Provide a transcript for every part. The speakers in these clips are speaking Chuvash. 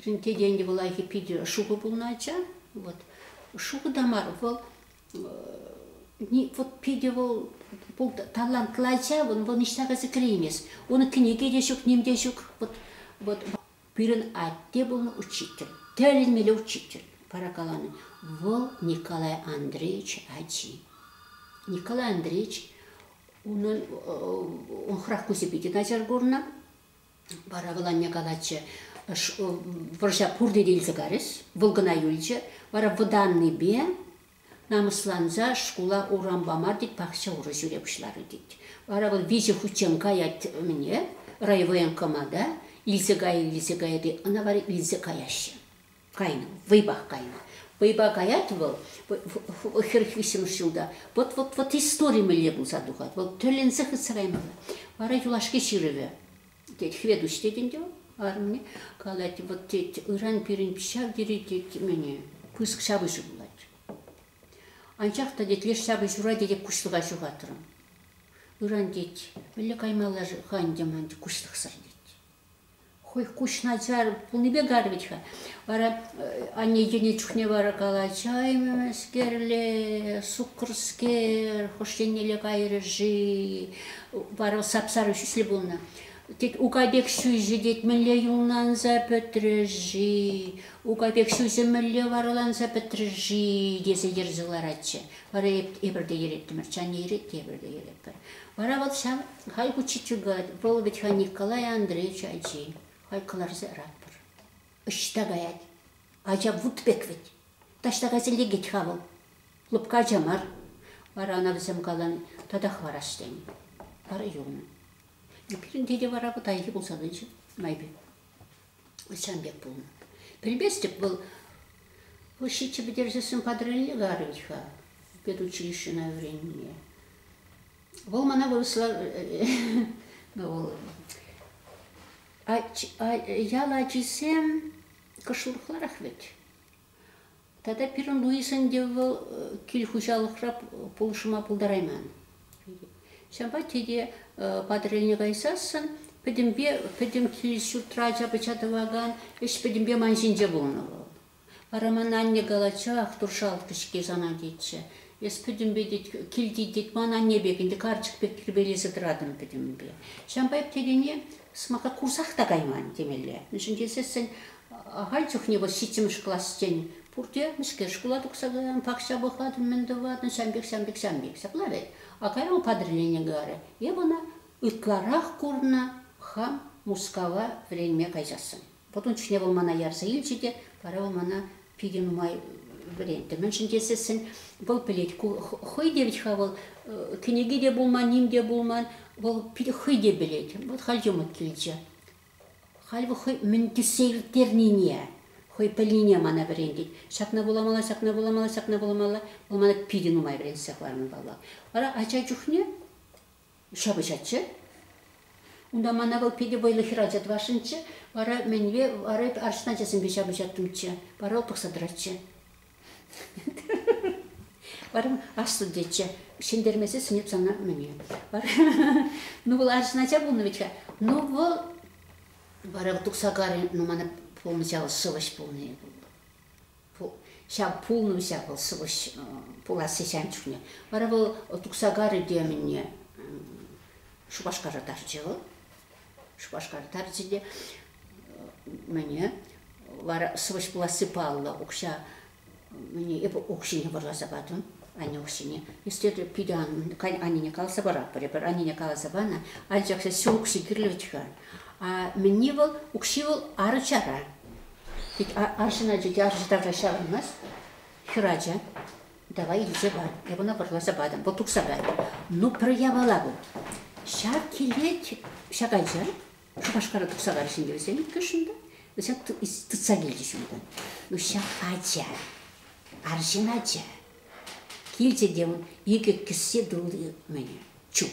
Пирӗнте тенӗ лайӑххи питӗ шухӑ пулнӑ ача. Вот. Шухӑ та мар, вӑл вот питӗ вӑл бұл талантлӑ ача, вӑл, вӑл ниҫта кайса кӗреймест. Унӑн кӗнеке те ҫук, ним те ҫук. Вот, вот пирӗн атте пулнӑ учитель, тӗлӗнмелле учитель, пара каланӑ. Вӑл Николай Андреевич ачи. Николай Андреевич унӑн он храх кусӗ питӗ начар курнӑ. Вара вӑл анне калатчӗ, вӑрҫа пурте те илсе карӗҫ, вӑл кӑна юлчӗ. Вара вӑтаннипе намӑсланса шкула урам пама тет, пахча урӑ ҫӳре пуҫларӗ тет. Вара вӑл виҫӗ хутчен каять ӗмӗне райвоенкомата, илсе кайӗ, илсе кайӗ те ӑна вара илсе каяҫҫӗ. Кайнӑ, вӑйпах кайнӑ. Вӑйпа каять вӑл, хӗр виҫҫӗмӗш ҫулта. Вӑт, вӑт, вӑт истори мӗнле пулса тухать, вӑл тӗлӗнсе хытсӑраймалла. Вара юлашки ҫырӑвӗ, тет, Хветуҫ тет ӗнтӗ вӑл арӑмне, калать, вӑт, тет, ыран пирӗн ҫав тери, тет, мӗне пысӑк ҫапӑҫу пулать. Анчах та, тет, леш ҫапӑҫура, тетек, куҫлӑха ҫухатрӑм. Ыран, тет, мӗнле каймалла-ха ӗнтӗ ман, куҫлӑхсӑр, тет. хӑй куҫ начар пулнипе карӗ вӗт-ха. Вара анне йӗнӗ чухне вара калаҫа ӗмӗскерле, суккӑрскер, хӑш еннелле кайрӗ-ши? Вара сап-сарӑ ҫӳҫлӗ пулнӑ. Тет, ука пек ҫӳҫӗ, тет, мӗнле юлланса пӗтрӗ-ши? Ука пек ҫӳҫӗ мӗнле вараланса пӗтрӗ-ши? тесе йӗрсе ларатчӗ. Вара эпир те йӗреттӗмӗр, чанне йӗрет те эпир те йӗретпӗр. Вара вӑл ҫав халь ку чичугать, вӑл вӗт-ха Николай Андреевич ачи. Халь кӑларса яратпӑр. Ӑҫта каять? Ача вут пек вӗт. Таҫта кайса лекет-ха вӑл. Лӑпкӑ ача мар. Вара ӑна вӗсем калан, татах варас тенӗ. Вара юлнӑ. Пирӗнте те вара пытайхи пулса тӑчӗ майпе. сан пек пулнӑ. Пӗлместӗп, вӑл вӑл ҫиччӗ пӗтерсессӗн патрулне кайрӗн-ха педучилищӑна вӗреннине. Вӑл мана вырӑсла вӑл ял ачисем кӑшлӑхларах вӗт. Тата пирӗн Луисӑн те вӑл кил хуҫалӑхра пулӑшма пултарайман. Ҫавӑнпа тете Патӑрьелне кайсассӑн пӗтӗмпе пӗтӗм кил-ҫуртра ача-пӑча тӑвакан ӗҫ пӗтӗмпе ман ҫинче пулнӑ вӑл. Вара ман анне калатчӗ, Ахтур шалккӑ-ҫке сана тетчӗ. Эс пӗтӗмпе тет, килти тет ман анне пек ӗнтӗ карчӑк пек тирпейлесе тӑратӑн пӗтӗмпе. Ҫавӑнпа эп тетене сӑмаха курсах та кайман темелле. Мӗншӗн тесессӗн Ахаль чухне вӑл ҫиччӗмӗш классчен пурте мӗскер шкула тухса каян, пахча пӑхатӑн, мӗн тӑватӑн, ҫам пек, ҫам пек, ҫам пек. Ҫапла вӗт. А кайран кадрилени кӑларӗ. Эп ӑна ытларах курнӑ хам Мускава вӗренме кайсассӑн. Вӑт ун чухне вӑл мана ярса илчӗ те, вара вӑл мана питӗ нумай вӗрентнӗ. Мӗншӗн тесессӗн вӑл пӗлет, ку хӑй те вӗт-ха вӑл кӗнеке те пулман, ним те пулман, вӑл питӗ хӑй те пӗлет. Вӑл халь йӑмӑк килчӗ. Халь вӑл хӑй мӗн тӳссе ирттернине, хӑй пӗлнине мана вӗрентет. Ҫакна вуламалла, ҫакна вуламалла, ҫакна вуламалла. Вӑл мана питӗ нумай вӗрентсе хӑварнӑ, паллах. Вара ача чухне ҫапӑҫатчӗ. Унта мана вӑл питӗ вӑйлӑ хӗрача тӑвасшӑнччӗ. Вара мӗнпе, вара эпӗ арҫын ачасемпе ҫапӑҫаттӑмччӗ. Вара вӑл пӑхса тӑратчӗ. Вара аслӑ дечче ҫӗнтермесе сӗнеп сана мӗне. Вара ну вӑл арҫын ача пулнӑ вӗт-ха. Ну вӑл вара тухса карӗ, ну мана пулнӑ ҫав сӑвӑҫ пулнӑ ҫав пулнӑ ҫав вӑл сӑвӑҫ пуласси ҫан чухне. Вара вӑл тухса карӗ те мӗнне Шупашкара тахчӗ вӑл. Шупашкар тарчӗ те мӗне вара сывӑҫ пуласси паллӑ укҫа мӗне эпӗ укҫине вӑрласа патӑм анне укҫине естественно питӗ аннене каласа паратпӑр эпир аннене каласа панӑ анчах ҫу укҫи кирлӗ вӗт-ха а мӗнни вӑл укҫи вӑл арӑчара тет арҫын ача тет арҫын ача ҫаврӑнмасть хӗр ача Давай илсе пар, эп ӑна пӑрласа патӑм, вӑл тухса кайрӗ. Ну, пӗр япала вӑл. Ҫак килет, ҫак ача Шупашкара тухса кайрӗҫ ӗнтӗ вӗсем иккӗшӗн те. Вӗсем тытса килчӗҫ унтан. Ну, ҫак ача, арҫын ача. Килчӗ те ун икӗ кӗссе тулли мӗне, чул.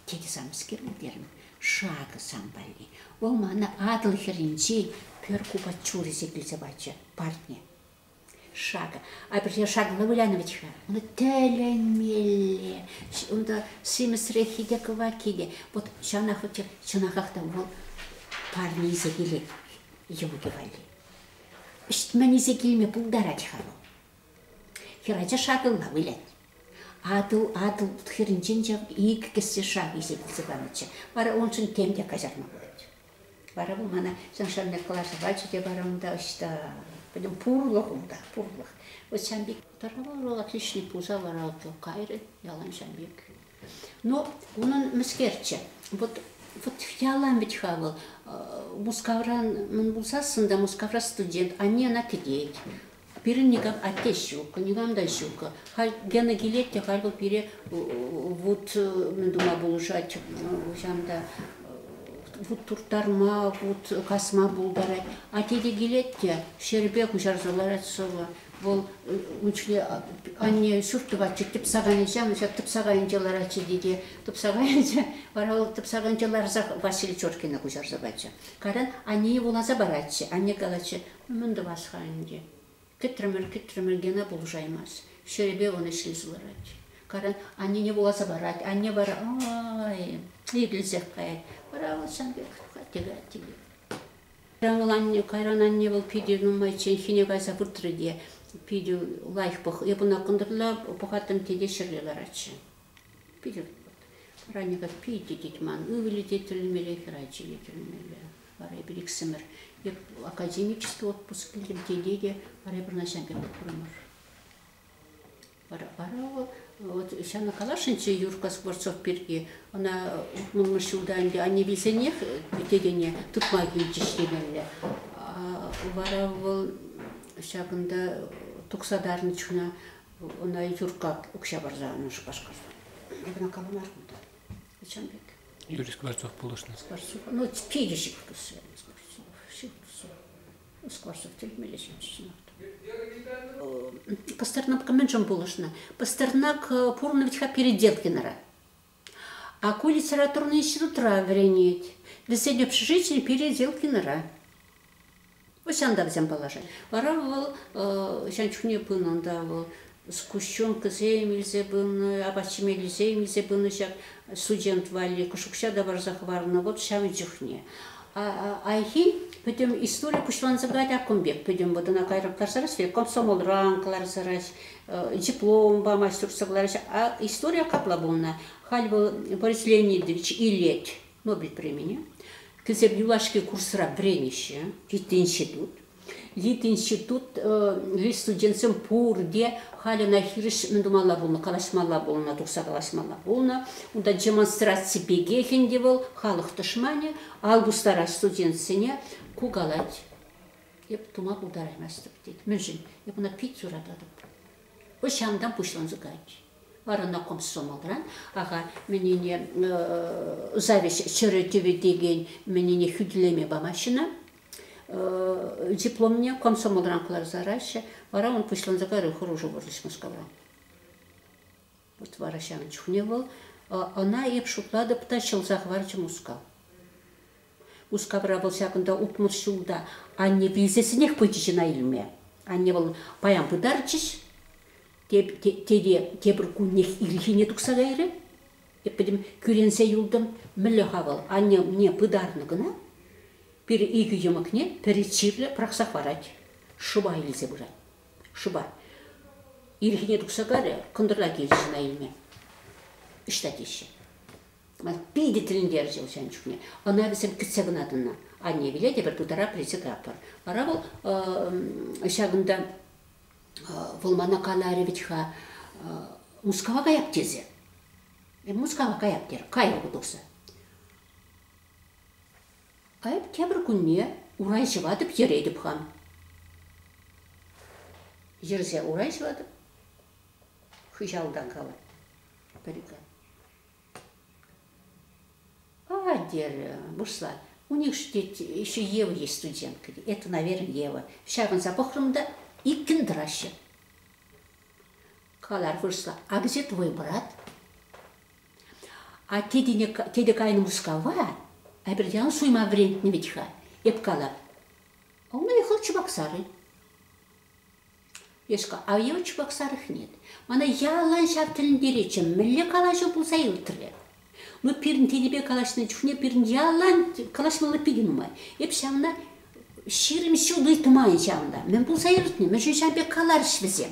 Тете самскер терӗм, шакӑ сан валли. Вӑл мана Атӑл хӗрринчи пӗр купа чурӗсем илсе пачӗ, парне. шакӑ апӗрхе шакӑллӑ вылянӑвӗт-ха ӑна тӗлӗнмелле унта симӗсреххи те кӑвакки те вот ҫавнах вӗт чӑнахах та вӑл парне илсе килет йӑлипе валли ӗҫтмен илсе килме пултарать-ха вӑл хӗрача шакӑлла вылять Атӑл-Атӑл хӗрӗнчен иккӗс те шакӑ илсе килсе панӑччӗ вара уншӑн тем те каҫарма пулать Вара вӑл мана совершенно калаҫӑвачӗ те бар унта ӑҫта, пӗтӗм пурлӑх унта, пурлӑх. Вот Ҫамбик тӑрӑва отличный пулса лараттӑм кайрӗ, ялан Ҫамбик. Но унӑн мӗскерччӗ, вот вот ялан вӗт-ха вӑл, Мускавран мӗн пулсассӑн та Мускавра студент, анне ӑна кӗтет. Пирӗн никам атте ҫуккӑ, никам та ҫуккӑ. Халь Гена килет те халь вӑл пире вут мӗн тума пулӑшать, хӑҫан та вут турттарма, вут касма пултарать. Атте те килет те ҫӗрпе куҫарса ларать сӑвӑ. Вӑл ун ҫине анне ҫурт тӑватчӗ, тӗпсакайӗнче, ҫав тӗпсакайӗнче ларатчӗ те те тӗпсакайӗнче вара вӑл тӗпсакайӗнче ларса Василий Чоркина куҫарса пачӗ. Кайран аннене вуласа паратчӗ. Анне калатчӗ, Мӗн тӑвас-ха ӗнтӗ? Кӗтрӗмӗр, кӗтрӗмӗр, Гена пулӑшаймасть. Ҫӗрӗпе вӑн ӗҫлесе ларать. Каран аннене вуласа парать. Анне вара ай икӗлсех каять. Вара вӑл сан пек тухать, тӗкать, тӗкет. Кайран вӑл анне, кайран анне вӑл питӗ нумайчченхине кайса выртрӗ те, питӗ лайӑх пӑх, эп ӑна кӑнтӑрла пӑхаттӑм те те ҫӗрле ларатчӗ. Питӗ ранека питӗ тет ман. Ывӑлӗ те тӗлӗнмелле, хӗрачи те тӗлӗнмелле. Вара эпир иксӗмӗр академический отпуск килтӗм тете те вара эпир Настян пек пурӑнмӑр. Вара вара вӑл вот ҫавна каласшӑнччӗ Юрка Скворцов пирки. Ӑна утмӑлмӗш ҫулта ӗнтӗ анне вилсенех тетене тытма килчӗҫ темелле. Вара вӑл ҫакӑнта тухса тарнӑ чуна Ӑна Юркка укҫа парса анӑ Шупашкарта. Вона кого мар куда? Зачем пек? Юрий Скворцов пулӑшнӑ. Скворцов. Ну, пережив все. Скворцов. Все, все. Скворцов тюрьмелле ҫапчынат. Пастернак меншем пулӑшнӑ. Пастернак пурнӑ ветха переделкинара. Ку литературный институтра вӗренет. Вӗсен общежитийӗ пире Зелкинӑра. Ӑҫан та вӗсем паллашать. Вара вӑл ҫан чухне пынӑ ӑнта вӑл сгущенкӑсем илсе пынӑ, апат-ҫимеллисем илсе пынӑ ҫак студент валли кӑшукҫа та парса хӑварнӑ вот ҫавӑн чухне. Айхи пӗтӗм истори пуҫланса каять ак кун пек. Пӗтӗм вот ӑна кайран кӑларса растет, комсомолран кӑларса дипломпа мастерство кӑлараҫҫӗ. А история капла пулнӑ. Халь вӑл Борис Леонидович илет Нобель премине. Кӗсеп юлашки курсра вӗренеҫҫӗ. Ют институт. Ют институт ют студентсем пурте халь ӑна хирӗҫ мӗн тумалла пулнӑ, калаҫмалла пулнӑ, тухса калаҫмалла пулнӑ. Унта демонстраци пекех ӗнтӗ вӑл, халӑх тӑшманӗ, ал тустарать студентсене, кукалать. эп тума пултараймастӑп тет. Мӗншӗн? Эп ӑна пит сурататӑп. Пӑҫантан пуҫланса кайать. Вара на комсомолран, аха, мӗнене зависть чӗрӗ тӗвӗ текен мӗнене хӳтӗлеме памаҫҫӗ дипломне комсомолран кӑларса араҫҫӗ. Вара он пуҫланса кайрӗ хӑрушӑ вӑрлӑш Мускавран. Вӑт вара ҫавӑн чухне вӑл, ӑна эп шутлатӑп та, ҫӑлса хӑварчӗ Мускав. Мускавра вӑл ҫакӑнта утмӑл ҫул та анне вилсессӗнех пычӗ чӑна илме. Анне вӑл паян пытарчӗҫ. Тете тепӗр куннех ирхине тухса кайрӗ. Эп пӗтӗм кӳренсе юлтӑм. Мӗнле-ха вӑл, анне умне пытарнӑ кӑна. Пӗр икӗ йӑмӑкне пӗри чирлӗ пӑрахса хӑварать, шыва илсе пырать. шӑпа. Ирхине тухса карӗ, кӑнтӑрла килчӗ чуна илме. Ӑҫта теҫҫӗ. Питӗ тӗлӗнтерчӗ вӑл ҫан чухне. Ӑна вӗсем кӗтсе кӑна тӑнӑ. Анне вилетӗпӗр, пытарап рече таппӑр. Вара вӑл ҫакӑнта вӑл мана каларӗ вӗт-ха, Мускава каяп тесе. Мускава каяп терӗ, кайрӗ ку тухса. Эп тепӗр кунне урай ҫӑватӑп йӗретӗп-ха. Йӗрсе урай ҫӑватӑп. Хыҫалтан калать. Пӗр-икӗ. А, терӗ, вырсла. У них же еще Ева есть студентка. Это, наверное, Ева. Ҫакӑнса пӑхрӑм та иккӗн тӑраҫҫӗ. Калар вырсла. А где твой брат? А те тене тете кайнӑ Мускава, Абердян суйма вӗрентнӗ вӗт-ха, эп кала. А у меня хӑл чупак сарӑ. Я ж а его чупак сарых нет. Мана ялан ҫав тӗлӗнтеретчӗ, мӗнле калаҫу пулса иртрӗ. Ну, пирӗн тенӗпе калаҫнӑ чухне пирӗн ялан калаҫмалла питӗ нумай. Эп ҫавна ҫирӗм ҫул ыйтман ҫавна. Мӗн пулса иртнӗ? Мӗн ҫун ҫав пек каларӗҫ вӗсем?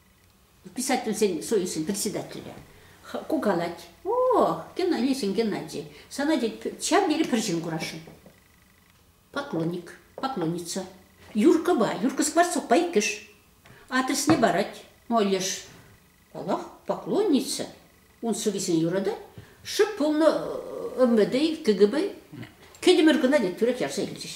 Писательсен союзӗн председателӗ ку калать, о, Геннадийсен Геннадий, сана тет, ҫав тери пӗр ҫын курасшӑн. Поклонник, поклонница. Юркӑпа, Юрка Скворцовпа иккӗш. Адресне парать. Ну, леш, паллах, поклонница. Ун сӑввисене юратать. Шӑп пулнӑ ӗмӗтӗ-и, кӗкӗпӗ. Кӗтӗмӗр кӑна тет, тӳрех ярса илчӗҫ.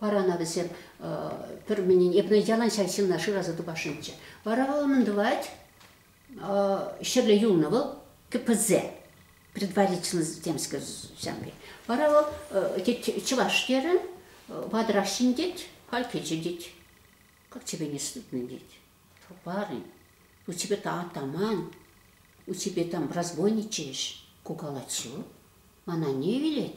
Вара ӑна вӗсем пӗр мӗнин, эпне ялан ҫак ҫынна шыраса тупасшӑнччӗ. Вара вӑл мӗн тӑвать? Ҫӗрле юлнӑ вӑл КПЗ, предварительность земской земли. Вара вӑл, тет, чӑваш терӗн, ватӑрах ҫын тет, халь кӗчӗ тет. Как тебе не стыдно, тет. Парень, у тебя там атаман, у тебя там разбойничаешь. Ку калать ҫу. Мана не велет?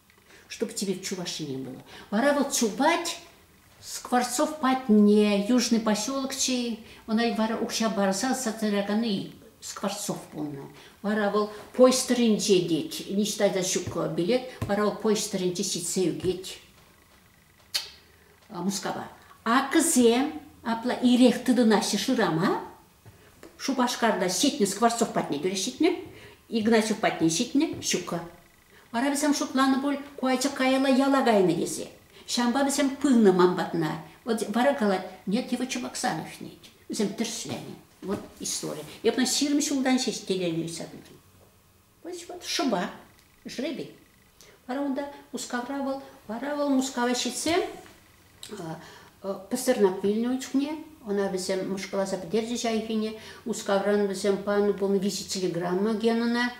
чтобы тебе Чувашине было. Вара вот чупать Скворцов патне, южный поселок чей, ona вара укҫа барса сатыраканы Скворцов пулнӑ. Вара вӑл поезд тӑрринче тет, ниҫта та ҫук билет, вара вӑл поезд тӑрринче ҫитсе ӳкет Мускава. Акӑсем апла ирех тытӑнаҫҫӗ шырама. Шупашкарта ҫитнӗ Скворцов патне тӳре ҫитнӗ, Игнатьев патне ҫитнӗ, ҫука. Вара вӗсем шутланӑ пуль, ку ача каялла яла кайнӑ тесе. Ҫавӑнпа вӗсем пынӑ ман патна. Вот вара калать, нет, его Чебоксанов нет. Вӗсем тӗрӗсленӗ. Вот история. Я потом ҫирӗм ҫултан ҫеҫ телевизор видим. Вот шӑпа, жребий. Вара унта Мускавра вӑл, вара вӑл Мускава ҫитсе пӗстернӗ вилнӗ ун чухне. Ӑна вӗсем мӑшкӑласа пӗтерчӗҫ айхине. Мускавран вӗсем панӑ пулнӑ виҫӗ телеграмма Генӑна.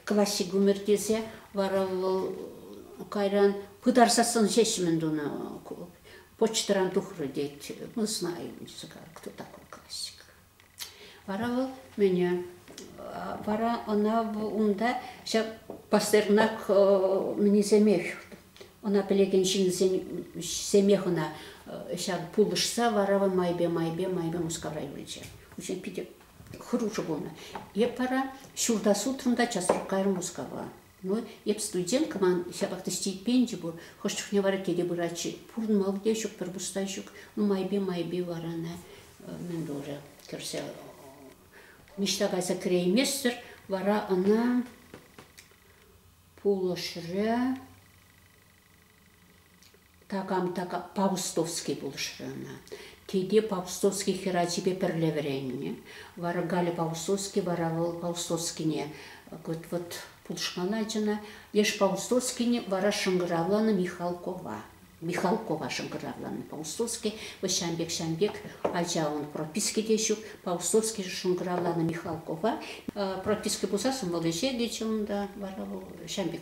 классик-гумер тесе вара вӑл кайран пытарсассӑн ҫеҫ-мӗн тунӑ почтӑран тухрӗ тет. Мы знаем, кто такой классик. Вара вӑл мене вара ӑна унта ҫав Пастернак мӗнисемех ӑна пӗлекен ҫынсемех ӑна ҫав пулӑшса вара майпе майпе майпе Мускавра юлчӗ. Учитель питӗ хӑрушӑ пулнӑ. Эп вара ҫурта сутрӑм та часрах кайрӑм Мускава. Ну, эп студент кӑман, ҫапах та стипенди пур. Хӑш чухне вара тете пырать-ши? Пурӑнмалли те ҫук, пӗр пуста ҫук. Ну, майпи-майпи вара ӑна мӗн турӗ, кӗрсе ниҫта кайса кӗрейместӗр. Вара ӑна пулӑшрӗ Такам Павустовский пулӑшрӗ ӑна. Тете Павустовский хӗр ачипе пӗрле вӗреннӗ. Вара Галя Павустовский вара вӑл Павустовскине вот пулӑшман ачана. Леш Павустовскине вара шӑнкӑравланӑ Михалкова. Михалкова шӑнкӑравланӑ Павустовский. Вӑл ҫам пек ҫам пек ача ун прописки те ҫук. Павустовский шӑнкӑравланӑ Михалкова. Прописки пулсассӑн вӑл ӗҫе килчӗ унта. Вара вӑл ҫам пек